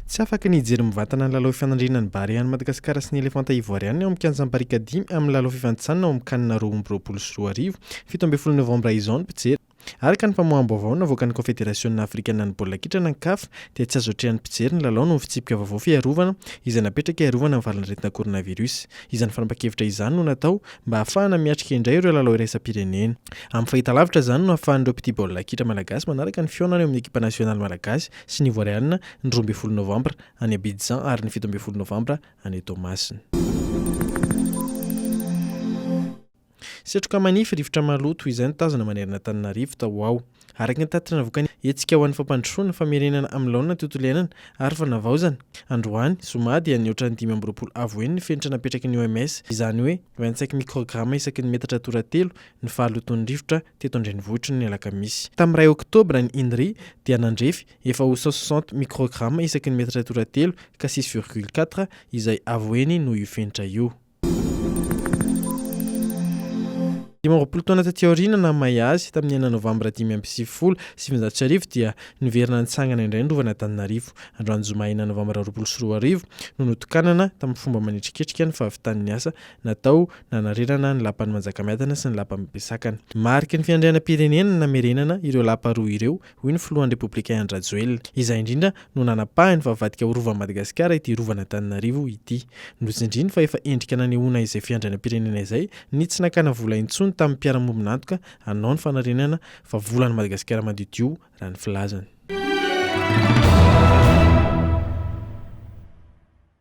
Tsy afaka ny hijery mivatana ny lalao fifanandrinana ny Barea an'i Madagasikara sy ny Elefanta Ivoarianina ao amin'ny kianjan'ny Barika dimy amin'ny lalao fifanintsanana ao amin'ny CAN roa amby roapolo sy roa arivo, fito ambin'ny folo novambra izao ny mpijery. Araka ny famoaham-baovao navoakan'ny Kaofederasiona Afrikana ny Baolina Kitra na ny CAF dia tsy azo atrehan'ny mpijery ny lalao noho ny fitsipika vaovao fiarovana izay napetraka hiarovana amin'ny valan'aretina coronavirus. Izany fanapan-kevitra izany no natao mba hahafahana miatrika indray ireo lalao iraisam-pirenena. Amin'ny fahitalavitra izany no ahafahan'ireo mpitia baolina kitra malagasy manaraka ny fihaonana eo amin'ny ekipa nasionaly malagasy sy ny Ivoarianina ny roa ambin'ny folo novambra any Abidjan ary ny fito ambin'ny folo novambra any Toamasina. Setroka manify, rivotra maloto, izay no tazana manerana Antananarivo tao ho ao. Araka ny tatitra navoakan'ny Hetsika ho an'ny Fampandrosoana, Famerenana amin'ny Laonina ny Tontolo Iainana ary Fanavaozana, androany, zoma, dia nihoatra ny dimy amby roapolo avo heny ny fenitra napetraky ny OMS, izany hoe vingt-cinq microgrammes isaky ny metatra toratelo, ny fahalotoan'ny rivotra teto an-drenivohitry ny Alakamisy. Tamin'ny iray Oktobra, ny INRI dia nandrefy efa ho cent soixante microgrammes isaky ny metatra toratelo ka six virgule quatre izay avo heny noho io fenitra io. Dimy amby roapolo taona taty aoriana naha may azy, tamin'ny enina novambra dimy amby sivifolo sy sivinjato sy arivo dia niverina nitsangana indray ny rovan'Antananarivo. Androany zoma enina novambra roapolo sy roa arivo no notokanana tamin'ny fomba manetriketrika ny fahavitan'ny asa natao nanarerana ny lapan'i Manjakamiadana sy ny lapan'i Besakana. Mariky ny fiandrianam-pirenena ny namerenana ireo lapa roa ireo hoy ny filohan'ny Repoblika Andry Rajoelina. Izay indrindra no nanapahany fa avadika ho Rovan'i Madagasikara ity Rovan'Antananarivo ity. Notsindriny fa efa endrika nanehoana izay fiandrianam-pirenena izay ny tsy nakana vola intsony tamin'ny mpiara-mombon'antoka hanao ny fanarenana fa volan'i Madagasikara madiodio raha ny filazany.